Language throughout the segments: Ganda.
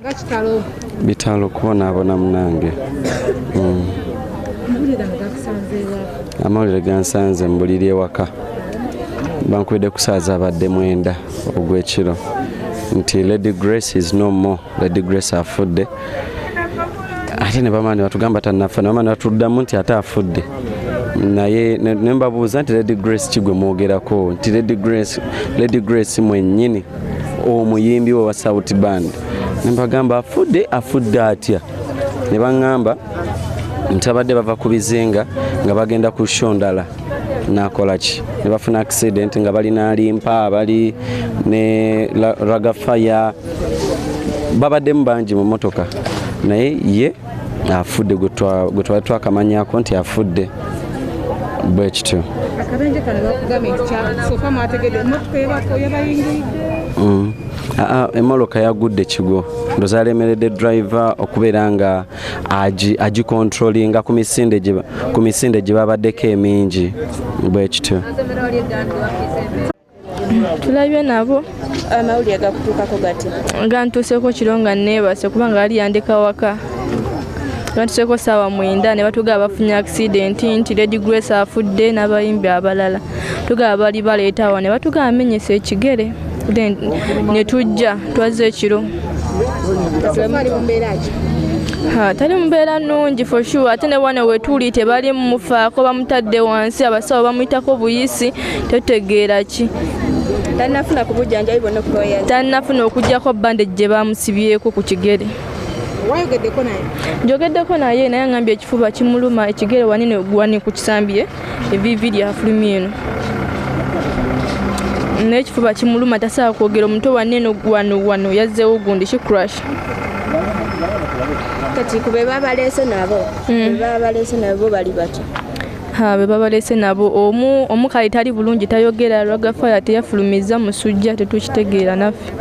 nga kitalo bitalo kubonaabona munange mm. amawulire gansanze mu buliri ewaka bankubidde kusaaza abadde mwenda ogw'ekiro nti lady grace is no more lady grace afudde ate ne bamaani batugamba tanafa ne bamaani batuddamu nti ate afudde naye nembabuuza nti lady grace kigwe mwogerako nti lady grace mwenyini omuyimbi we wa south band nembagamba afudde afudde atya ne baŋŋamba nti abadde bava ku bizinga nga bagenda ku sho ndala nakola ki ne bafuna accident nga bali nalimpa bali ne ragafaya babaddemu bangi mu motoka naye ye afudde gwe twali twakamanyako nti afudde bwe kityo mm. ah, ah, emoloka yagudde kigo ndoza alemeredde driver okubeera nga agikontrolinga ku misinde gye babaddeko emingi bwe kityo tulabye nabo amawulire gakutuukako gati nga ntuuseko kiro nga neebase kubanga ali yandeka waka batuseeko saawa mwenda ne batugaa bafunye akisidenti nti lady grace afudde n'abayimbi abalala tugaa bali baleetawa ne batugaa amenyesa ekigere then ne tujja twazze ekiro tali mubeera nungi for sure ate ne wana wetuli tebali mumufaako bamutadde wansi abasawo bamuyitako buyisi totegeera ki tanafuna ku bujjanjabi bwonna okubayaza tanafuna okugyako bandage gye baamusibyeko ku kigere wayogeddeko naye njogeddeko naye naye angambye ekifuba kimuluma ekigere wanene wani ku kisambye evivi lyafulumi eno n'ekifuba kimuluma tasobola kwogera omuto wanene wano wano yazzeewo gundi ki crash kati ku be babaleese nabo mm. be babaleese nabo bali batya be babalese nabo omu omukayi tali bulungi tayogera ragafaya teyafulumiza musujja tetukitegeera naffe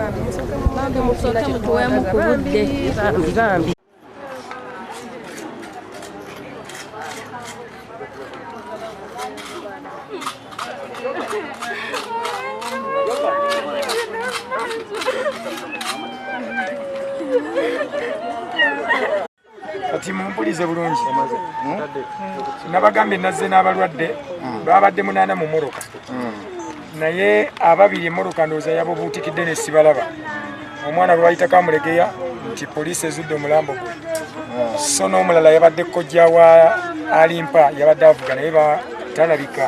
kati mumpulize bulungi hmm? nabagambye nazze n'abalwadde hmm. babadde munaana mu moroka hmm. naye ababiri emoroka ndowooza yabobuutikidde nesibalaba omwana lwayitako amulegeya nti poliisi ezudde omulambo gwe so n'omulala yabadde kojja wa alimpa yabadde avuga naye batalabika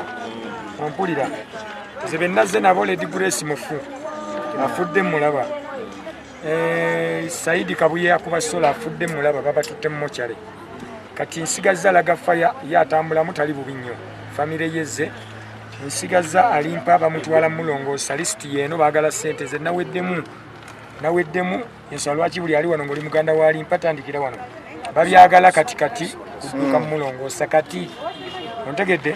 ompulira nze benazze nabo ledi grace mufu afudde mulaba Eh, Saidi Kabuye yakuba sola afudde mulaba babatutte mu mochare kati nsigaza alaga faya ye atambulamu tali bubi nnyo famire yezze nsigaza alimpa bamutwala mulongoosa lisiti yeeno baagala ssente ze naweddemu naweddemu ensonga lwaki buli ali wano ngaoli muganda walimpa tandikira wano babyagala kati kati kudduka mumulongoosa kati ontegedde